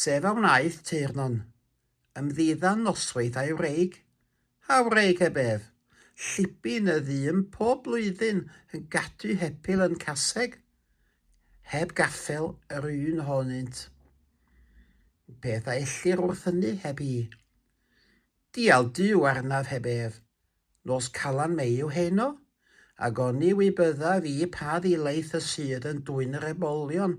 Sef a wnaeth teyrno'n ymddiddan noswaith a'i wraig, a wraig heb ef, llibu yn y ddu yn pob blwyddyn yn gadw hepil yn caseg, heb gaffel yr un ohonynt. Beth a ellir wrth hynny heb hi? Dial Duw arnaf heb ef. Nos Calan Mei yw heno, ac oni wy byddaf i pa ddilaeth y sydd yn dwyn yr ebolion.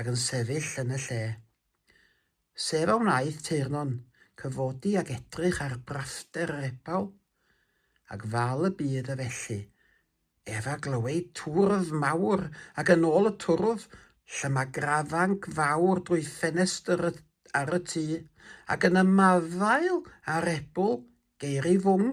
ac yn sefyll yn y lle. Sef a wnaeth Teyrnon cyfodi ac edrych ar braster yr epaw, ac fal y byd a felly, ef a glywyd twrdd mawr ac yn ôl y twrdd lle mae grafanc fawr drwy ffenestr ar y tŷ, ac yn ymadael â'r ebwl geir ei fwng.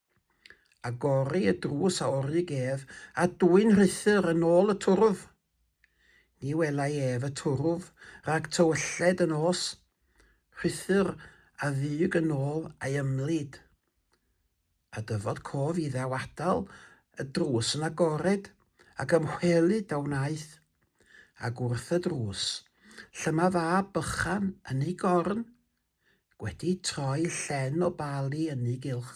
Agori y drws a orig ef a dwyn Rhuthr yn ôl y twrf. Ni welai ef y twrf rhag tywylled yn os Rhuthr a ddug yn ôl a'i ymlid. A dyfod cof iddaw adal y drws yn agored ac ymchwelu da wnaeth, ac wrth y drws, llyma fab bychan yn ei gorn, wedi troi llen o Bali ynni gylch.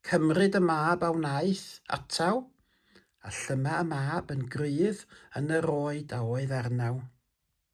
Cymryd y mab a wnaeth ataw, a llyma y mab yn gryf yn yr oed a oedd arnaw.